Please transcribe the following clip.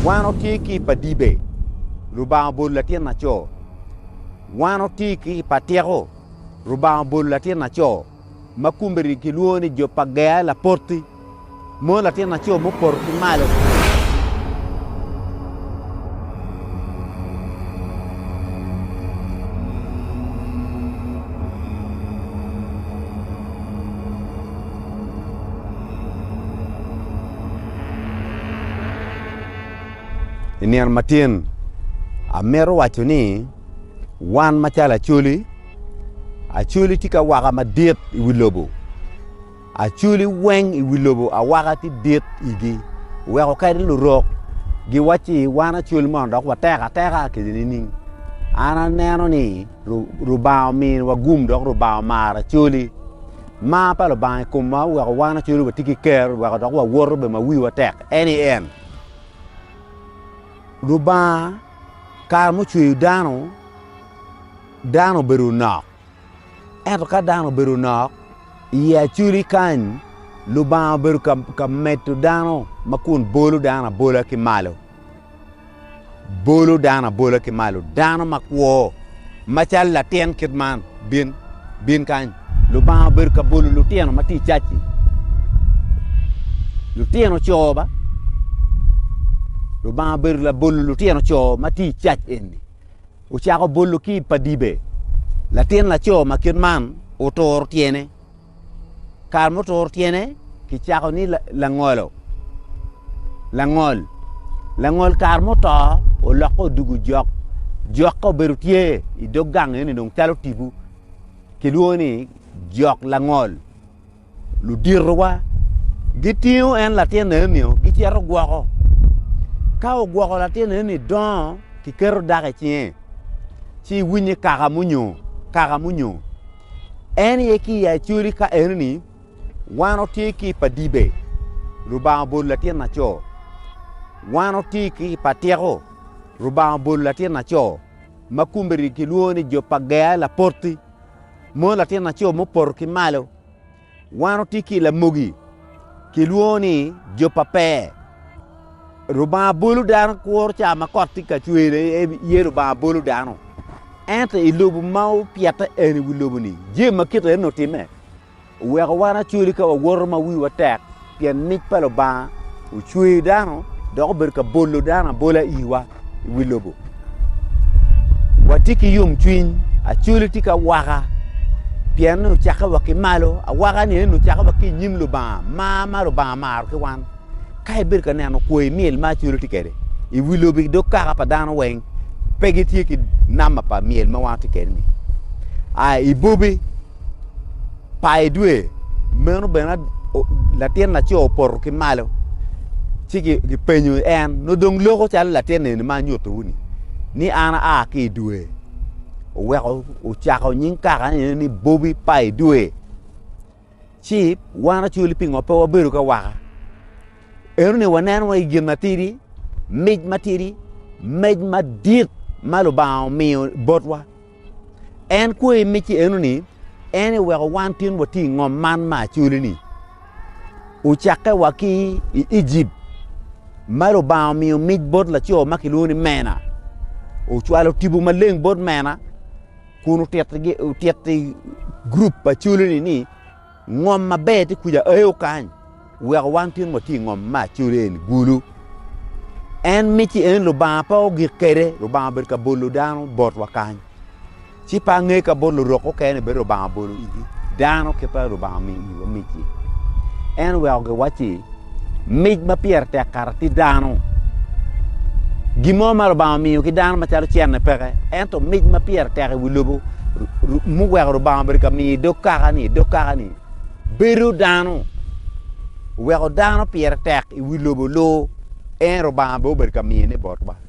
Wan otye ki pa dibe, Lubanga obolo latin naco. Wan otye ki pa tyeko, Lubanga obolo latin naco. Ma kumbedi kilwongo ni jo pa gea lapoti, mono latin naco mupoto ki malo. I nino matin amito waco ni wan macalo Acholi, Acholi tye ki awaka madit i wi lobo. Acholi weng i wi lobo awaka tye dit i wigi oweko kadi lurok giwacci wan Acholi mono dok watek ateka kede nining? An aneno ni Lubanga ominiwa gum dok Lubanga omaro Acholi. Mar pa Lubanga i komwa oweko wan wacodo watye ki ker weko dok wawoto bene ma wiwa tek. En aye en. Lubanga kare mucweyo dano, dano obedo nok. Ento ka dano obedo nok, i acoli kany Lubanga obedo ka medo dano ma kun bolo dano abola ki malo. bolo dano abola ki malo, dano makwo macalo latin kit man, bin, bin kany. Lubanga obedo ka bolo lutino ma tye i cac-ci, lutino co ba. Lubanga obedo labolo lutino co ma tye i cac eni. Ocako bolo ki i padibe, latin laco ma kit man oturo tyene. Kare mutur tyene kicako ni langolo, langol. Langol kare muto olokke odugu jok, jok ka obedo tye i dog gang eni dong calo tibu kilwongo ni jok langol. Luditowa gitingo en latin enio gicito gwoko, ka ogwoko latin eni dongo kiketo dako i cinge ci iwiny ni kaka munyo, kaka munyo. En aye ki i Acoli ka enoni wan watye ki i pa dibe, Lubanga obolo latin laco. Wan watye ki i pa tyeko, Lubanga obolo latin laco. Ma kumbedi kilwongo ni jo pa Gea lapoti, mono latin laco mupoto ki malo. Wan otye ki i lamogi kilwongo ni jo pa pe. Rubanga bolo dano kuro ca ma kot tye ka cwer ye Rubanga bolo dano. Ento i lobo ma opyete eni i wi lobo-ni, jami ma kite eni otimme oweko wan acoli ka wawoto ma wiwa tek. Pien mic pa Lubanga ocweyo dano dok obedo ka bolo dano abola iwa i wi lobo. Watye ki yomcwiny, acoli tye ki awaka pien ni ocakke wa ki malo. Awaka-ni eni ocakke wa ki i nyim Lubanga, mar ma Lubanga maro ki wan. Ka ibedo ka neno kwo i myel ma acoli tye kwede i wi lobo ki dog kaka pa dano weng, pe gitye ki namba pa myel ma wan watye kwede-ni. A, ibobe. pa i dwe meno bene latin laco opoto ki malo ci gipenyo en nongo dong loko calo latin eni ma anyutowu ni ni an aa ki i dwe oweko ocako nying kaka nene ni bobi pa i dwe ci wan acwali pingo pe wabedo ka waka eno ni wanen wa i gin matidi mic matidi mec madit ma lubanga omiyo botwa En kwoyo i micce eno ni, En eweko wan tin wati i ngom man ma acoli-ni. Ocakke wa ki i Ejip, ma Lubanga omiyo mic bot laco ma kilwongo ni mena. Ocwalo tipo maleng bot mena kun otito gurup pa coli-ni ni, Ngom maber ti kuja ae okany weko wan tin wa ti i ngom ma codo eni gulu. En miti en Lubanga pe ogik kede, Lubanga obedo ka bolo dano bot wa kany. Ci pe ange ka bot lurok okene bedo Lubanga bolo igi. Dano kite Lubanga omiyo iwa miti. En oweko gi wacci, mic ma pire tek kato ti dano. Gin mo ma Lubanga omiyo ki dano macalo cene peke, ento mic ma pire tek i wi lobo muweko Lubanga obedo ka miyo i dog kaka-ni, i dog kaka-ni bedo dano. Oweko dano pire tek i wi lobo loo, en Lubanga bene obedo ka miyone botwa.